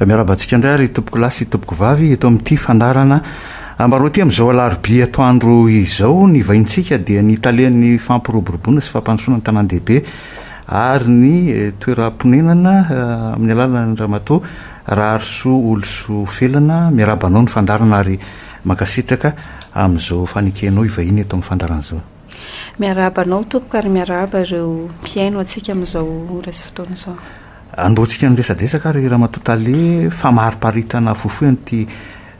Miarahaba antsika indray ary tompoko lahy sy tompoko vavy eto amin'ity fandaharana Ambaraoty amin'izao alarobia atoandro izao. Ny vahintsika dia ny talen'ny fampiroboroboana sy fampandrosoana ny tanàn-dehibe ary ny toeram-ponenana amin'ny alalan'ny ramatoa Raharisoa Olosoa Felana. Miarahaba anao ny fandaharana ary mankasitraka amin'izao fanekenao hivahiny eto amin'ny fandaharana izao. Miarahaba anao tompoko ary miarahaba ireo mpihaino antsika amin'izao ora sy fotoana izao. Anombohantsika ny resadresaka ary Ramatoa Tale famariparitana fohifohy an'ity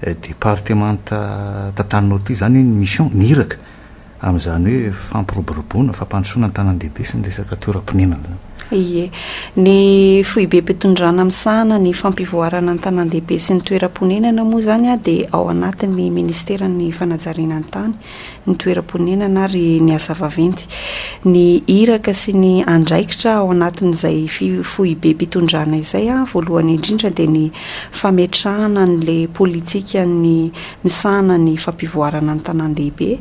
eh, departemanta tantan'ny Nord ity izany ny mission ny iraka amin'izany hoe fampiroboroboana, fampandrosoana ny tanàn-dehibe sy ny resaka toeram-ponenana izany. Ie, ny foibem-pitondrana misahana ny fampivoarana ny tanàn-dehibe sy ny toeram-ponenana moa izany dia ao anatin'ny ministeran'ny fanajariana ny tany ny toeram-ponenana ary ny asa vaventy. Ny iraka sy ny andraikitra ao anatin'izay foibem-pitondrana izay, voalohany indrindra, dia ny fametrahana an'ilay politikan'ny misahana ny fampivoarana ny tanàn-dehibe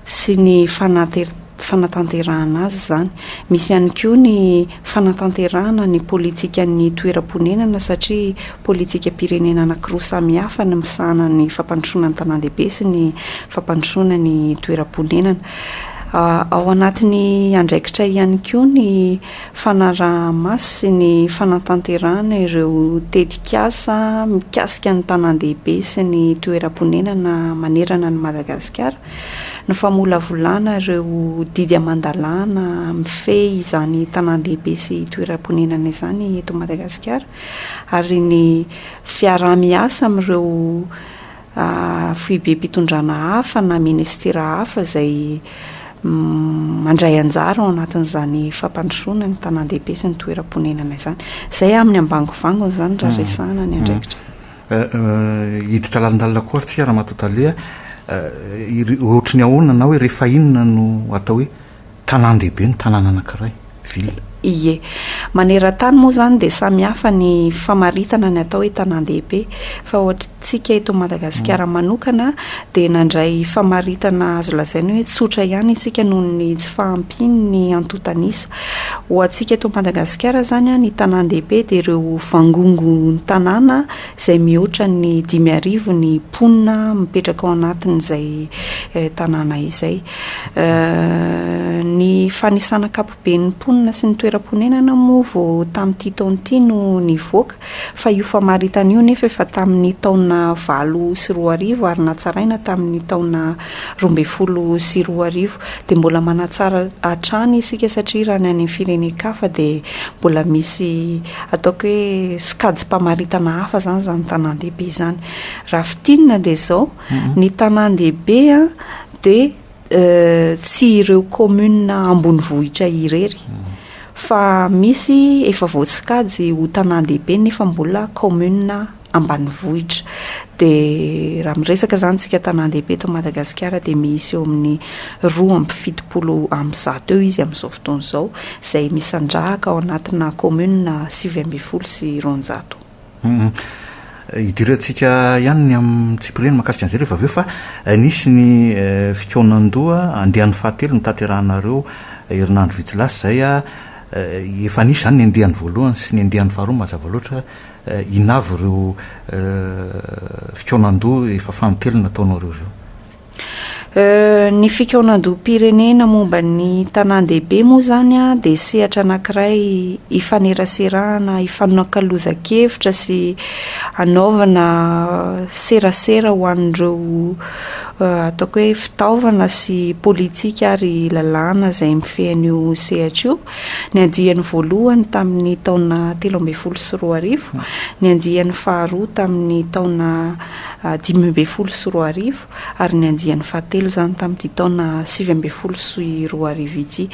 sy ny fanateran-tena, fanatanterahana azy izany. Misy ihany koa ny fanatanterahana ny politikan'ny toeram-ponenana satria politikam-pirenena anankiroa samihafa ny misahana ny fampandrosoana ny tanàn-dehibe sy ny fampandrosoana ny toeram-ponenana. Ao anatin'ny andraikitra ihany koa ny fanaraha-maso sy ny fanatanterahana ireo tetikasa mikasika ny tanàn-dehibe sy ny toeram-ponenana manerana an'i Madagasikara. ny famolavolana ireo didy aman-dalàna mifehy izany tanàn-dehibe sy toeram-ponenana izany eto Madagasikara ary ny fiaraha-miasa amin'ireo foibem-pitondrana hafa na minisitera hafa izay mandray anjara ao anatin'izany fampandrosoana ny tanàn-dehibe sy ny toeram-ponenana izany. Izay amin'ny ambangovangony izany raha resahana ny andraikitra. Hiditra lalindalina koa ary tsika raha matoa tale a! Ohatry ny ahoana na hoe rehefa inona no atao hoe tanàn-dehibe ny tanàna anankiray, ville? Ie. Maneran-tany moa izany dia samy hafa ny famaritana ny atao hoe tanàn-dehibe fa ohatry tsika eto Madagasikara manokana dia nandray famaritana azo lazaina hoe tsotra ihany isika noho ny tsy fahampian'ny antontan'isa Ho antsika eto Madagasikara izany, ny tanàn-dehibe dia ireo vangongon-tanàna izay mihoatra ny dimy arivo ny mponina mipetraka ao anatin'izay tanàna izay. Ny fanisana ankapoben'ny mponina sy ny toeram-ponenana moa vao tamin'ity taona ity no nivoaka fa io famaritana io anefa efa tamin'ny taona valo sy roa arivo ary natsaraina tamin'ny taona roa ambin'ny folo sy roa arivo dia mbola manatsara hatrany isika satria raha ny any firenen-kafa dia mbola misy ataoko hoe sokajim-pamaritana hafa izany izany tanàn-dehibe izany. Raha fintinina dia izao, ny tanàn-dehibe dia tsy ireo kaominina ambonivohitra irery fa misy efa voasokajy ho tanàn-dehibe nefa mbola kaominina ambanivohitra. Dia raha miresaka izany isika tanàn-dehibe eto Madagasikara dia misy eo amin'ny roa amby fitopolo amby zato eo izy amin'izao fotoana izao, izay misandrahaka ao anatina kaominina sivy ambin'ny folo sy roanjato. Hidirantsika ihany ny amin'ny tsipiriany mahakasika an'izay rehefa avy eo fa nisy ny fikaonan-doha andiany fahatelo notanterahinareo herinandro vitsy lasa izay. Efa nisy izany ny andiany voalohany sy ny andiany faharoa mazava loatra. Inona avy ireo fikaonandoha efa fanintelony nataonareo ireo? Ny fikaonandoham-pirenena momba ny tanàn-dehibe moa izany dia sehatra anankiray ifaneraserahana, ifanakalozan-kevitra sy anaovana serasera ho an'ireo ataoko hoe fitaovana sy politika ary lalàna izay mifehy an'io sehatra io. Ny andiany voalohany tamin'ny taona telo ambin'ny folo sy roa arivo, ny andiany faharoa tamin'ny taona dimy ambin'ny folo sy roa arivo ary ny andiany fahatelo izany tamin'ity taona sivy ambin'ny folo sy roa arivo ity.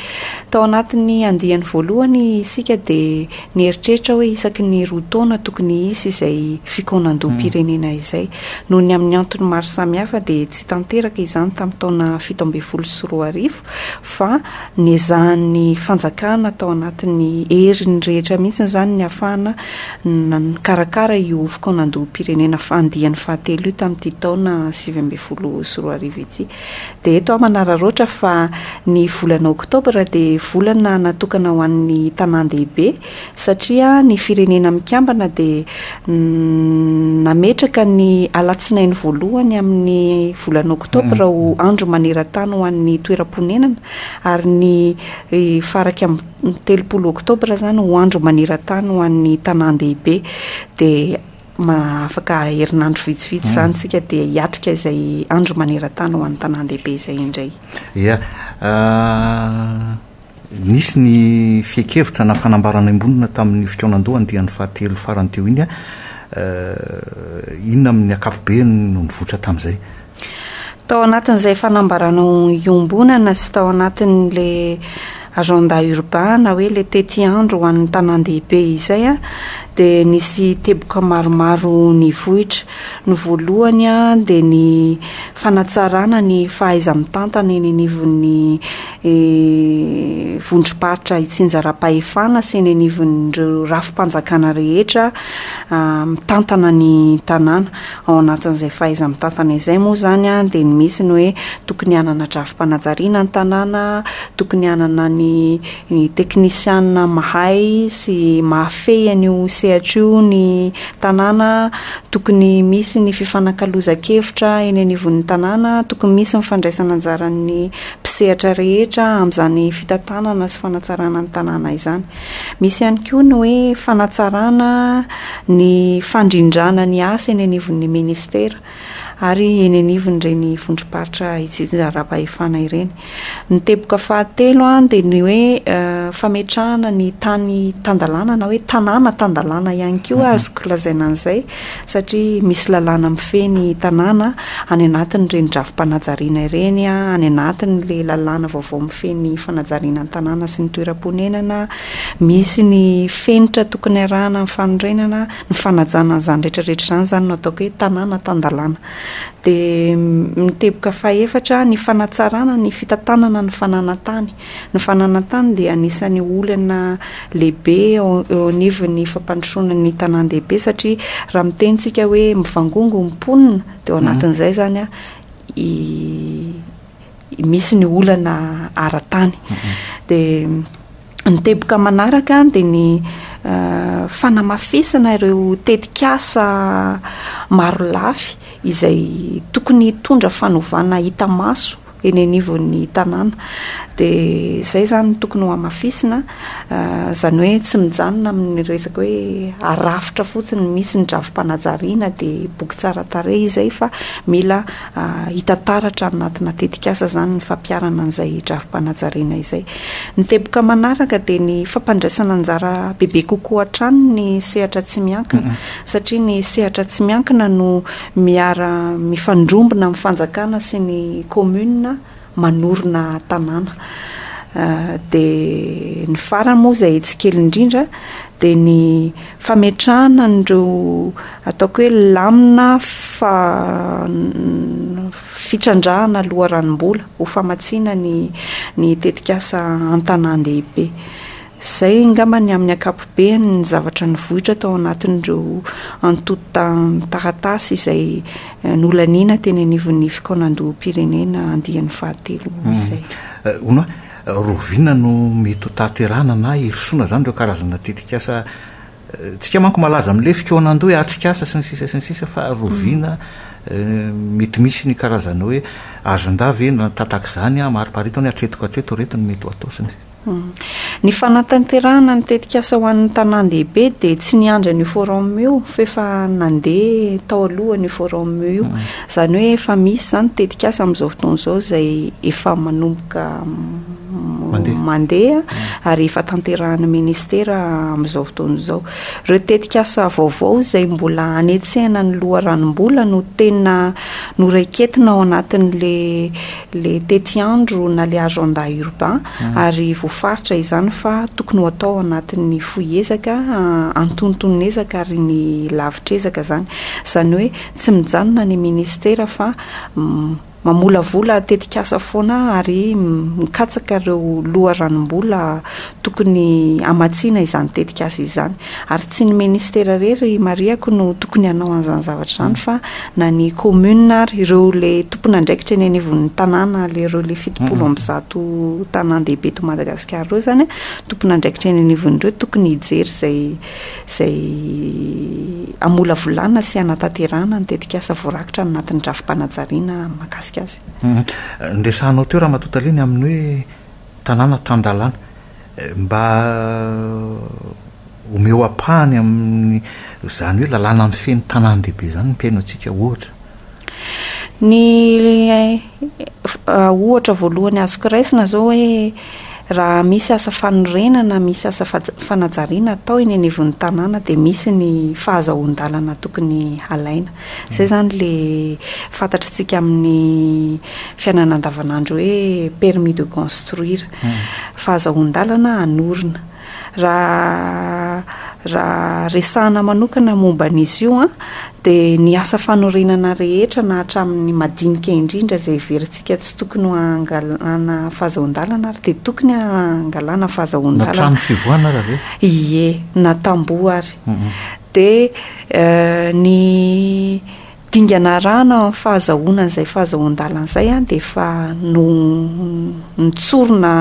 Tao anatin'ny andiany voalohany isika dia nieritreritra hoe isaky ny roa taona tokony hisy izay fikaonandoham-pirenena izay. Noho ny amin'ny antony maro samihafa dia tsy tanteraka izany tamin'ny taona fito ambin'ny folo sy roa arivo. fa nezahan'ny fanjakana tao anatin'ny heriny rehetra mihitsy izany ny hahafahana nikarakara io fokonan-dohom-pirenena andiany fahatelo io tamin'ity taona sivy ambin'ny folo sy roa arivo ity. Dia eto aho manararaotra fa ny volana oktobra dia volana natokana ho an'ny tanàn-dehibe, satria ny Firenena Mikambana dia nametraka ny alatsinainy voalohany amin'ny volana oktobra ho andro maneran-tany ho an'ny toeram-ponenana ary ny faraika amin'ny telopolo oktobra izany ho andro maneran-tany ho an'ny tanàn-dehibe dia afaka herinandro vitsivitsy izany isika dia hiatrika izay andro maneran-tany ho an'ny tanàn-dehibe izay indray. Ia. Nisy ny fiekevitra na fanambarana embonina tamin'ny fikaonandoha andiany fahatelo farany teo iny. Inona amin'ny ankapobeny no nivoitra tamin'izay? Tao anatin'izay fanambarana iombonana sy tao anatin'le agenda urbain na hoe le tetiandro ho an'ny tanàn-dehibe izay dia nisy teboka maromaro nivoitra. Ny voalohany dia ny fanatsarana ny fahaiza-mitantana eny anivon'ny ny vondrom-paritra itsinjaram-pahefana sy eny anivon'ireo rafi-panjakana rehetra mitantana ny tanàna. Ao anatin'izay fahaiza-mitantana izay moa izany dia ny misy ny hoe tokony hanana drafi-panajariana ny tanàna, tokony hanana ny teknisianina mahay sy mahafehy an'io sehatra io ny tanàna, tokony misy ny fifanakalozan-kevitra eny anivon'ny tanàna, tokony misy ny fandraisana anjaran'ny mpisehatra rehetra amin'izany fitantanana sy fanatsarana ny tanàna izany. Misy ihany koa ny hoe fanatsarana ny fandrindrana ny asa eny anivon'ny ministera ary eny anivon'ireny vondrom-paritra itsinjaram-pahefana ireny. Ny teboka fahatelo dia ny hoe eh, fametrahana ny tany tan-dalàna na hoe tanàna tan-dalàna ihany koa mhm. azoko lazaina an'izay satria misy lalàna mifehy ny tanàna any anatin'ireny drafi-panajariana ireny, any anatin'ilay lalàna vaovao mifehy ny fanajariana ny tanàna sy ny toeram-ponenana, misy ny fenitra tokony arahana amin'ny fanorenana, ny fanajana an'izany rehetra rehetra izany, izany no ataoko hoe tanàna tan-dalàna. Dia ny teboka fahefatra, ny fanatsarana ny fitantanana ny fananan-tany, Ny fananan-tany dia anisan'ny olana lehibe eo eo anivon'ny fampandrosoana ny tanàn-dehibe satria raha miteny tsika hoe mivangongo ny mponina dia ao anatin'izay izany i misy ny olana ara-tany. Dia ny teboka manaraka dia ny fanamafisana ireo tetikasa marolafy izay tokony hitondra fanovana hita maso. eny anivon'ny tanàna dia izay izany no tokony hohamafisina izany hoe tsy mijanona amin'ny resaka hoe arafitra fotsiny misy ny drafi-panajariana dia boky tsara tarehy izay fa mila hita taratra any anatina tetikasa izany ny fampiharana an'izay drafi-panajariana izay. Ny teboka manaraka dia ny fampandraisana anjara bebe kokoa hatrany ny sehatra tsy miankina satria ny sehatra tsy miankina no Miara mifandrombona amin'ny fanjakana sy ny commune manorina tanàna. Dia ny farany moa izay tsy kely indrindra dia ny fametrahana an'ireo ataoko hoe lamina fitrandrahana loharanom-bola ho famatsiana ny tetikasa an-tanàn-dehibe. Izay angamba ny amin'ny ankapobeny ny zavatra nivoitra tao anatin'ireo antontan-taratasy izay nolaniana teny anivon'ny fikaonandoham-pirenena andiany fahatelo izay. Hono aho, Rovina no mety ho tahaterahana na hirosoana izany ireo karazana tetikasa, tsika manko malaza amin'ilay fikaonandoha hoe atrikasa sy ny sisa sy ny sisa fa Rovina mety misy ny karazana hoe azondahy ve na tatak'izany amariparito ny hatretiko hatreto ireto no mety ho atao sy ny sisa. Ny fanatanterahana ny tetikasa ho an'ny tanàn-dehibe dia tsy niandry an'io forum io fa efa nandeha tao alohany io forum io. Izany hoe efa misy izany ny tetikasa amin'izao fotoana izao izay efa manomboka mandeha ary efa tanterahan'ny ministera amin'izao fotoana izao. Ireo tetikasa vaovao izay mbola hanetsehana ny loharanom-bola no tena noraiketina ao anatin'ilay le tetiandro na le agenda urbain ary voafaritra izany fa tokony ho atao anatin'ny fohy ezaka, antonton'ezaka ary ny lavitr'ezaka zany. Zany hoe tsy mijanona ny ministera fa mamolavola tetikasa foana ary mikatsaka ireo loharanom-bola tokony hamatsiana izany tetikasa izany. Ary tsy ny ministera irery ry Mariako no tokony hanao an'izany zavatra izany fa na ny commune ary ireo ilay tompon'andraikitra eny anivon'ny tanàna ilay ireo ilay fitopolo amby zato tanàn-dehibe eto Madagasikara ireo izany tompon'andraikitra eny anivon'ireo tokony hijery izay izay hamolavolana sy hanatanterahana ny tetikasa voarakitra any anatin'ny drafi-panajariana mahakasika azy. Ny resahanao teo Ramatoa Tale ny amin'ny hoe tanàna tan-dalàna. Mba omeo ampahany amin'ny izany hoe lalàna mifehy ny tanàn-dehibe izany ny mpihaino antsika ohatra. Ny ohatra voalohany azoko raisina izao hoe raha misy asa fanorenana, misy asa fanajariana atao eny anivon'ny tanàna dia misy ny fahazahoan-dalana tokony halaina. Izay izany ilay fantatr'isika amin'ny fiainana andavanandro hoe permis de construire. fa azahoan-dalana hanorina. Raha raha resahana manokana momba an'izy io an, dia ny asa fanorenana rehetra na hatramin'ny madinika indrindra izay heverintsika tsy tokony ho hangalana fahazahoan-dalana ary dia tokony hangalana fahazahoan-dalana. Na trano fivoahana ary ve? Ie, na tamboho ary. Dia ny Dingana arahana amin'ny fahazahoana an'izay fahazahoan-dalana izay dia efa notsorina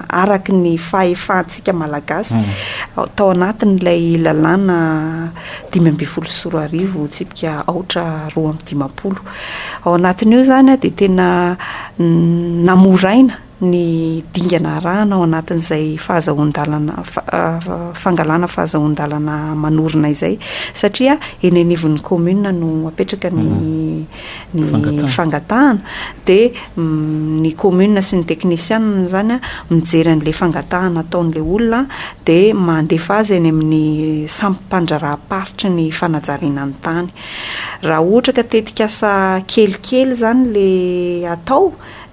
araka ny fahefantsika Malagasy tao anatin'ilay lalàna dimy ambin'ny folo sy roa arivo tsipika aotra roa amby dimampolo. Ao anatin'io izany dia tena namoraina ny dingana arahana ao anatin'izay fahazahoan-dalana fangalana fahazahoan-dalana manorina izay satria eny anivon'ny commune no apetraka ny ny fangatahana dia ny commune sy ny teknisiana izany a mijery an'ilay fangatahana ataon'ilay olona dia mandefa azy any amin'ny sampy mpandraharaha-paritry ny fanajariana ny tany raha ohatra ka tetikasa kelikely izany ilay atao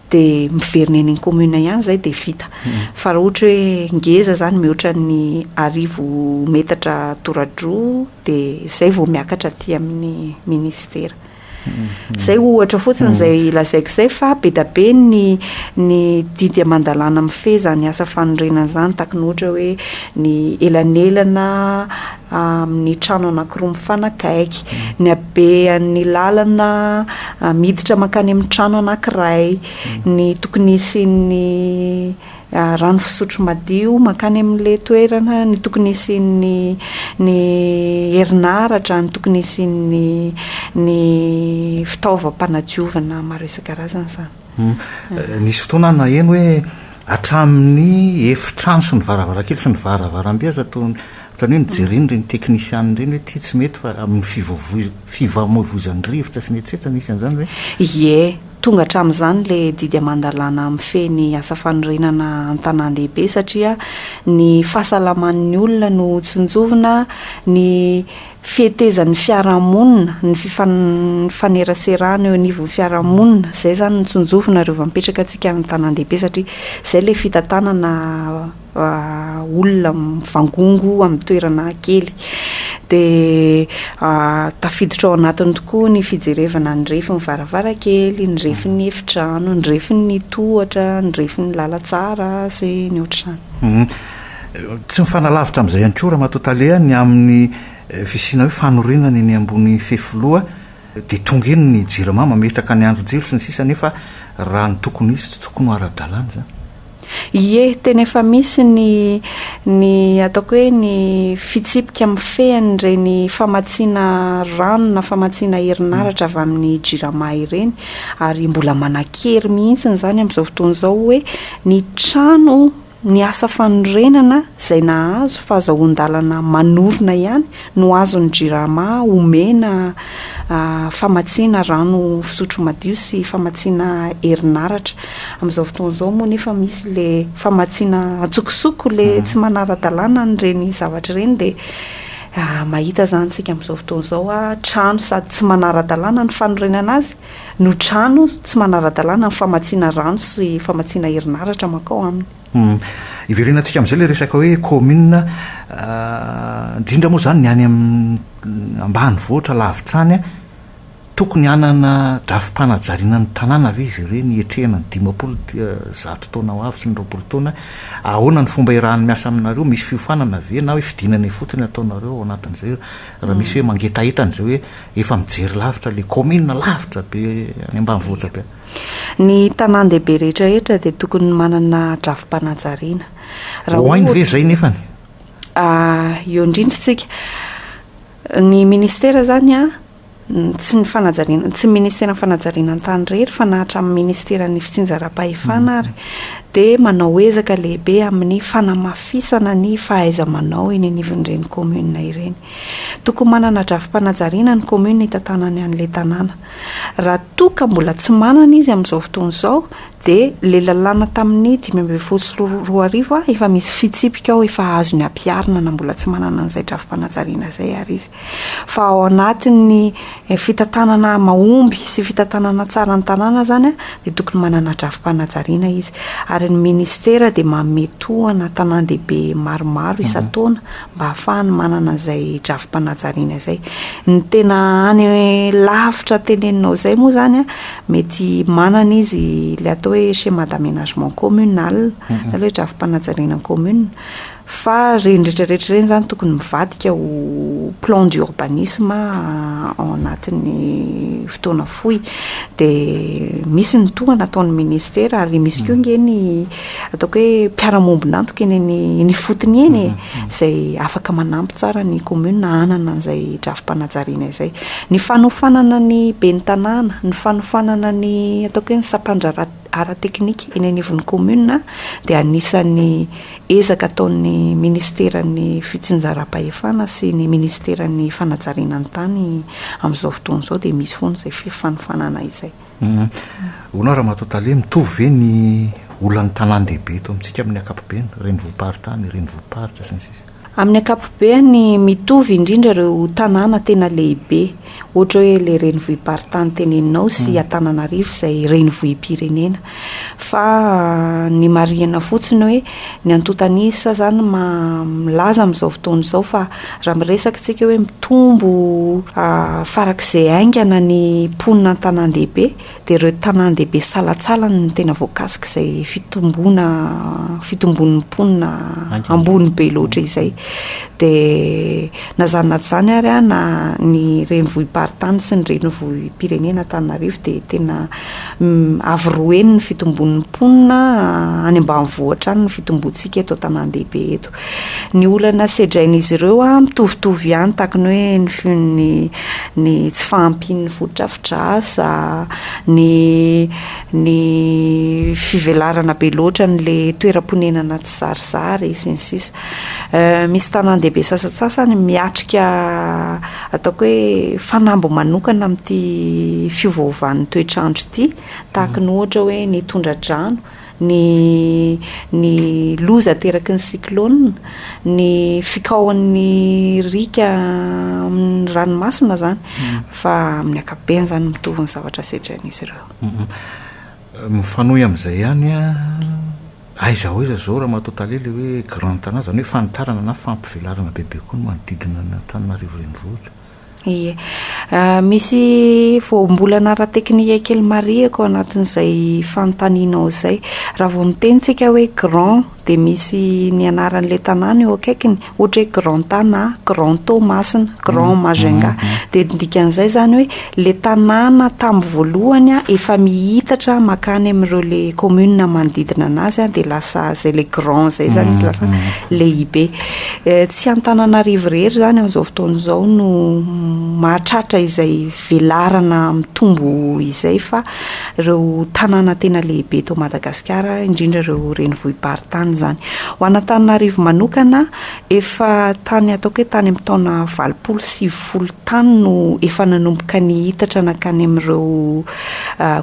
dia miverina eny ny commune ihany izay dia vita. Fa raha ohatra hoe ngeza izany mihoatra ny arivo metatra toradroa dia izay vao miakatra aty amin'ny ministera. Izay ohatra fotsiny izay lazaiko izay fa be dia be ny ny didy aman-dalàna mifehy izany asa fanorenana izany tahaka ny ohatra hoe ny elanelana amin'ny trano anankiroa mifanakaiky, ny habean'ny lalana miditra mankany amin'ny trano anankiray, ny tokony hisian'ny rano fisotro madio mankany amin'ilay toerana, ny tokony hisian'ny ny herinaratra, ny tokony hisian'ny ny fitaovam-panadiovana maro isan-karazany izany. Nisy fotoana aho naheno hoe hatramin'ny efitrano sy ny varavarankely sy ny varavarambe aza toa ohatran'ny hoe nojereny ireny teknisianina ireny hoe ity tsy mety fa amin'ny fifamoivoizan'ny rivotra sy ny etsetra nisy an'izany ve? Ie, tonga hatramin'izany ilay didy aman-dalàna mifehy ny asa fanorenana an-tanàn-dehibe satria ny fahasalaman'ny olona no tsinjovina, ny fetezan'ny fiarahamonina, ny fifaneraserana eo anivon'ny fiarahamonina, izay izany no tsinjovina ary vao mipetraka antsika any an-tanàn-dehibe satria izay ilay fitantanana olona mivangongo amin'ny toerana kely. Dia tafiditra ao anatiny tokoa ny fijerevana ny refin'ny varavarankely, ny refin'ny efitrano, ny refin'ny tohatra, ny refin'ny lalantsara sy ny ohatr'izany. Tsy mifanalavitra amin'izay ihany koa Ramatoa Tale ny amin'ny fisiana hoe fanorenana eny ambony fefiloha dia tonga eny ny jirama mametraka ny andrin-jiro sy ny sisa nefa raha ny tokony hisy tsy tokony ho ara-dalàna izany. Ie, tena efa misy ny ny ataoko hoe ny fitsipika mifehy an'ireny famatsiana rano na famatsiana herinaratra avy amin'ny jirama ireny ary mbola manan-kery mihitsy izany amin'izao fotoana izao hoe ny trano Ny asa fanorenana izay nahazo fahazahoan-dalana manorina ihany no azon'ny Jirama omena famatsiana rano fisotro madio sy famatsiana herinaratra. Amin'izao fotoana izao moa nefa misy ilay famatsiana antsokosoko, ilay tsy manara-dalàna an'ireny zavatra ireny dia mahita izany isika amin'izao fotoana izao, trano sady tsy manara-dalàna ny fanorenana azy. no trano tsy manara-dalàna ny famatsiana rano sy famatsiana herinaratra mankao aminy. Hiverenantsika amin'izay ilay resaka hoe commune, indrindra moa izany ny any amin'ny ambanivohitra lavitra any. Tokony hanana drafi-panajariana ny tanàna ve izy ireny hiatrehana ny dimampolo zato taona ho avy sy ny roapolo taona? Ahoana ny fomba iarahan'ny miasa aminareo? Misy fiofanana ve na hoe fidinana ifotony ataonareo ao anatin'izay raha misy hoe mangetaheta an'izay hoe Efa mijery lavitra ilay kaominina lavitra be any ambanivohitra be. Ny tanàn-dehibe rehetrarehetra dia tokony manana drafi-panajariana. Raha Ho hainy ve ohatra- izay nefany? Ah, eo indrindra isika. Ny ministera izany an, n- tsy ny fanajariana, tsy ny ministeran'ny fanajariana an-tany irery fa na hatramin'ny ministeran'ny fitsinjaram-pahefana ary dia manao ezaka lehibe amin'ny fanamafisana ny fahaiza-manao eny anivon'ireny kaominina ireny. Tokony manana drafi-panajariana ny commune hitantanany an'ilay tanàna. Raha toa ka mbola tsy manana izy amin'izao fotoana izao dia ilay lalàna tamin'ny dimy ambin'ny folo sy roa arivo efa misy fitsipika ao efa azony ampiharina na mbola tsy manana an'izay drafi-panajariana izay ary izy fa ao anatin'ny fitantanana mahomby sy fitantanana tsara ny tanàna izany dia tokony manana drafi-panajariana izy ary ny ministera dia manome tohana tanàn-dehibe maromaro isan-taona mba hahafahany manana izay drafi-panajariana izay. Ny tena any lavitra teneninao izay moa izany an, mety manana izy ilay atao hoe schéma d'aménagement communal, mhm. ilay hoe drafi-panajariana commune, fa ireny rehetrarehetra ireny izany tokony mivadika ho plan d'urbanisme ah, ao anatin'ny fotoana fohy. Dia misy ny tohana ataon'ny ministera ary misy koa mhm. nge ny ataoko hoe mpiara-mombon'antoka eny eny eny ifotony eny e, izay afaka manampy tsara ny commune hanana an'izay drafi-panajariana izay. Ny fanofanana ny ben'ny tanàna, ny fanofanana ny ataoko hoe ny sampandraharaha ara-teknika eny anivon'ny commune dia anisan'ny ezaka ataon'ny ministeran'ny fitsinjaram-pahefana sy ny ministeran'ny fanajariana ny tany amin'izao fotoana izao dia misy foana izay fifanofanana izay. Humm. Hono aho Ramatoa Tale, mitovy ve ny olan'ny tanàn-dehibe eto amintsika amin'ny ankapobeny, renivohi-paritany, renivohi-paritra, sy ny sisa? Amin'ny ankapobeny, mitovy indrindra ireo tanàna tena lehibe, ohatra hoe ilay renivohi-paritany teneninao sy Antananarivo izay renivohi-pirenena. Fa ny marihina fotsiny hoe. Ny antotanisa zany maha milaza amin'izao fotoana izao fa raha miresaka isika hoe mitombo farak'izay haingana ny mponina an-tanàn-dehibe dia ireo tanàn-dehibe salatsalany no tena voakasik'izay fitomboana fitomboan'ny mponina ambony be loatra izay. Dia na izany na tsy izany ary na ny renivohi-paritany sy ny renivohi-pirenena Antananarivo dia tena Avo roa heny ny fitombon'ny mponina any ambanivohitra any ny fitombontsika eto an-tanàn-dehibe eto. Ny olana sedrain'izy ireo mitovitovy ihany tahaka ny hoe ny fi- ny ny tsy fahampian'ny fotodrafitrasa, ny ny fivelarana be loatra an'ilay toeram-ponenana tsizarizary sy ny sisa. Misy tanàn-dehibe sasantsasany miatrika ataoko hoe fanamby manokana amin'ity fiovaovan'ny toetr'andro ity, tahaka ny ohatra hoe ny tondra-drano, ny ny loza ateraky ny cyclone, ny fikaohan'ny riaka amin'ny ranomasina izany, fa amin'ny ankapobeny izany mitovy ny zavatra sedrain'izy ireo. Mifanohy amin'izay ihany an! Aiza ho aiza izao Ramatoa Tale ilay hoe Grand Tana izany hoe fanitarana na fampivelarana bebe koa ny manodidina an'Antananarivo Renivohitra? Ie. Misy voambolana ara-teknika kely marihiko ao anatin'izay fanontanianao izay. Raha vao miteny isika hoe Grand dia misy ny anaran'ilay tanàna eo akaikiny, ohatra hoe grand tana, grand to masina, grand mm, majenga mm, mm. dia ndikan'izay zany hoe le tanàna tamin'ny voalohany a efa mihitatra makany amin'ireo le commune manodidina anazy a dia lasa zay le grand zay zany izy lasa lehibe eh, tsy antananarivo rehery zany amin'izao fotoana izao no mahatratra izay velarana mitombo izay fa ireo tanàna tena lehibe eto Madagasikara, indrindra ireo renivohi-paritany izany. Ho an'Antananarivo manokana, efa tany ataoko hoe tany amin'ny taona valopolo sy sivifolo tany no efa nanomboka nihitatra nankany amin'ireo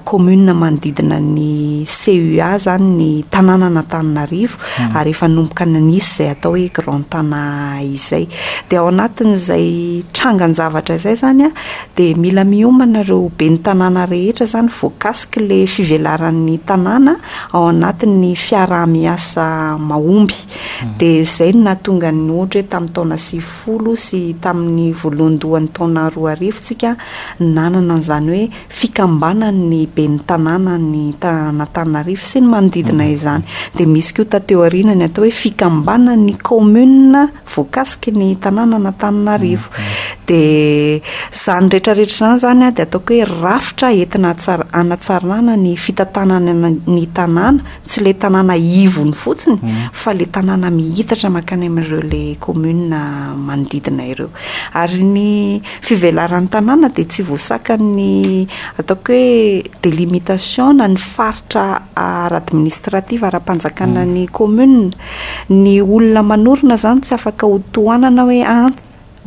kaominina manodidina ny CUA izany ny tanànan'Antananarivo, ary efa nanomboka nanisy izay atao hoe grand tana izay dia ao anatin'izay trangan-javatra izay zany a dia mila miomana ireo ben'ny tanàna rehetra zany voakasiky ilay fivelaran'ny tanàna ao anatin'ny fiaraha-miasa mahomby hmm. dia izay no nahatonga ny ohatra hoe tamin'ny taona sivifolo sy tamin'ny voalohandohan'ny taona roa arivo tsika nanana an'izany hoe fikambanan' ny ben'ny tanàna an' ny An'Antananarivo sy ny manodidina izany. Dia misy koa taty aoriana ny atao hoe fikambanan' ny kaominina voakasiky ny tanàna an' Antananarivo. Dia izany rehetrarehetra izany izany dia ataoko hoe rafitra entina hatsar- hanatsarana ny fitantanana ny ny tanàna, tsy ilay tanàna ivony fotsiny fa ilay tanàna mihitatra mankany amin' ireo ilay kaominina manodidina ireo. Ary ny. fivelaran'ny tanàna dia tsy voasakan'ny ataoko hoe délimitation na ny faritra ara-administrative ara-panjakana ny commune. Ny olona manorina izany tsy afaka ho tohanana hoe an,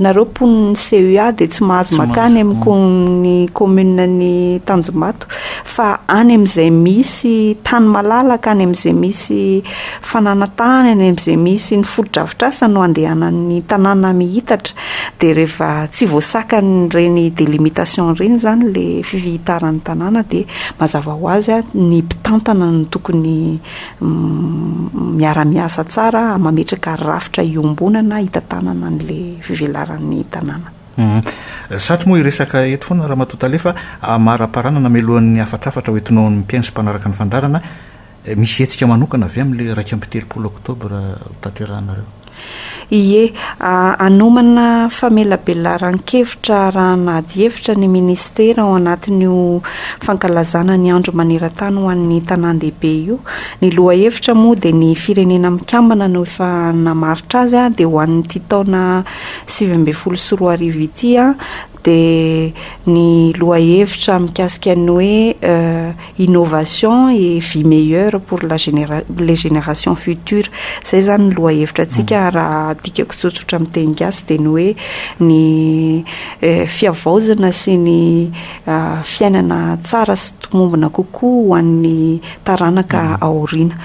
nareo mponin'ny CEA dia tsy mahazo makany amin'ny commune ny Tanjombato. fa any amin'izay misy tany malalaka, any amin'izay misy fananantany, any amin'izay misy ny fotodrafitrasa no andehanan'ny tanàna miitatra, dia rehefa tsy voasakan'ireny délimitation ireny izany ilay fifihitaran'ny tanàna dia mazava ho azy ny mpitantana no tokony miara-miasa tsara mametraka rafitra iombonana hitantanana an'ilay fivelaran'ny tanàna. Humm. Satry moa hiresaka eto foana Ramatoa Tale fa amaraparana namelohan'ny hafatrafatra ho entinao amin'ny mpihaino sy mpanaraka ny fandaharana, misy hetsika manokana ve amin'ilay iraika amby telopolo oktobra ho tanterahanareo? Ie. Hanomana famelabelaran-kevitra arahana adihevitra ny Minisitera ao anatin'io fankalazana ny Andro maneran-tany ho an'ny tanàn-dehibe io. Ny lohahevitra moa dia ny Firenena Mikambana no efa namaritra azy dia ho an'ity taona sivy ambin'ny folo sy roa arivo ity dia ny lohahevitra mikasika ny hoe innovation et vie meilleure pour la les générations futures izay izany ny lohahevitra antsika mm. raha dikako tsotsotra amin'ny teny gasy dia ny hoe ny fiavaozana sy ny fiainana tsara sy tomombona kokoa ho an'ny taranaka aoriana.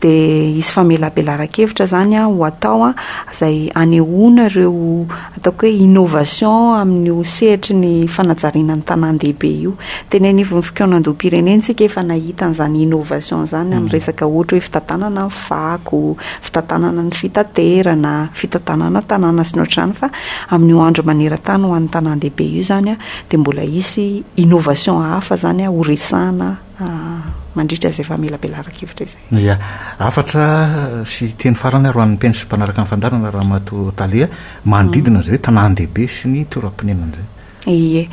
Dia hisy famelabelaran-kevitra izany ho atao izay hanehoana ireo ataoko hoe innovation amin'io sehatry ny fanajariana ny tanàn-dehibe io. Teny anivon'ny fikaonandoham-pirenena isika efa nahita an'izany innovation izany amin'ny resaka ohatra hoe fitantanana ny fako, fitantanana ny fitaterana, fitantanana tanàna sy ny ohatr'izany fa amin'io andro maneran-tany ho an'ny tanàn-dehibe io izany dia mbola hisy innovation hafa izany horesahana. mandritra izay famelabelaran-kevitra izay. Ia. Hafatra sy teny farany ary ho an'ny mpino sy mpanaraka ny fandaharana Ramatoa Thalia, manodidina izay hoe tanàn-dehibe sy ny toeram-ponenana izay. Ie.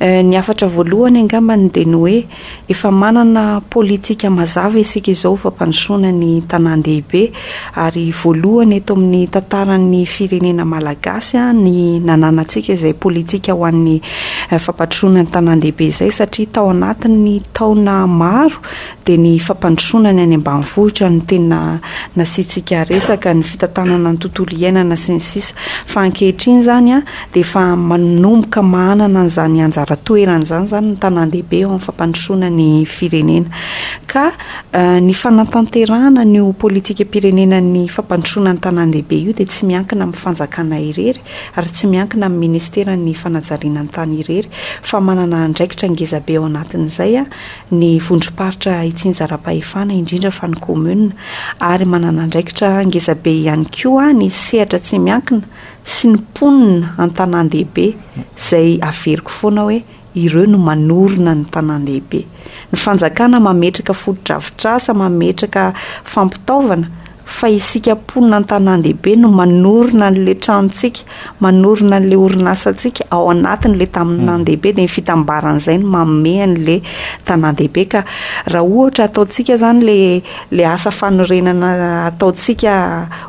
Ny hafatra voalohany angambany dia ny hoe efa manana politika mazava isika izao fampandrosoana ny tanàn-dehibe. Ary voalohany eto amin'ny tantaran'ny firenena malagasy ny nananantsika izay politika ho an'ny fampandrosoana ny tanàn-dehibe izay satria tao anatin'ny taona maro dia ny fampandrosoana ny any ambanivohitra no tena nasiantsika resaka, ny fitantanana ny tontolo iainana sy ny sisa Fa ankehitriny izany dia efa manomboka manana an'izany anjara toerany izany izany ny tanàn-dehibe eo amin'ny fampandrosoana ny firenena ka Ny fanatanterahana an'io politikam-pirenenan'ny fampandrosoana ny tanàn-dehibe io dia tsy miankina amin'ny fanjakana irery ary tsy miankina amin'ny minisiteran'ny fanajariana ny tany irery fa manana andraikitra ngezabe ao anatin'izay ny vondrom-paritra itsinjaram-pahefana indrindra fa ny commune ary manana andraikitra ngezabe ihany koa ny sehatra tsy miankina sy ny mponina an-tanàn-dehibe izay averiko foana hoe Ireo no manorina ny tanàn-dehibe. Ny fanjakana mametraka fotodrafitrasa, mametraka fampitaovana, fa isika mponina an-tanàn-dehibe no manorina an'ilay tranontsika, manorina an'ilay orinasantsika ao anatin'ilay tanàn-dehibe, dia ny fitambaran'izay no manome an'ilay tanàn-dehibe. Ka raha ohatra ataontsika izany ilay ilay asa fanorenana ataontsika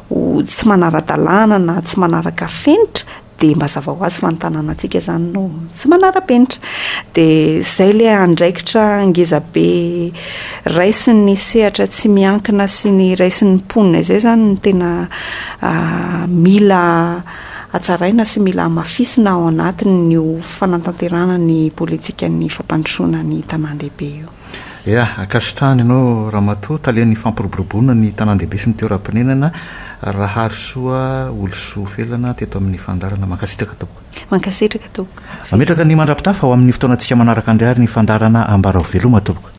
ho tsy manara-dalàna na tsy manaraka fenitra, dia mba hazava ho azy fa ny tanànantsika izany no tsy manara-penitra. Dia izay ilay andraikitra ngezabe raisin'ny sehatra tsy miankina sy ny raisin'ny mponina izay izany no tena ah, mila hatsaraina sy mila hamafisina ao anatin'io fanantanterahana ny politikan'ny fampandrosoana ny tanàn-dehibe io. Ya, ankasitrahana ianao Ramatoa, talen'ny fampiroboroboana ny tanàn-dehibe sy ny toeram-ponenana, Raharisoa Olosoa Felana teto amin'ny fandaharana. Mankasitraka tompoko. Mankasitraka tompoko. Mametraka ny mandrapitafa ho amin'ny fotoanantsika manaraka indray ary ny fandaharana Ambara ho veloma tompoko.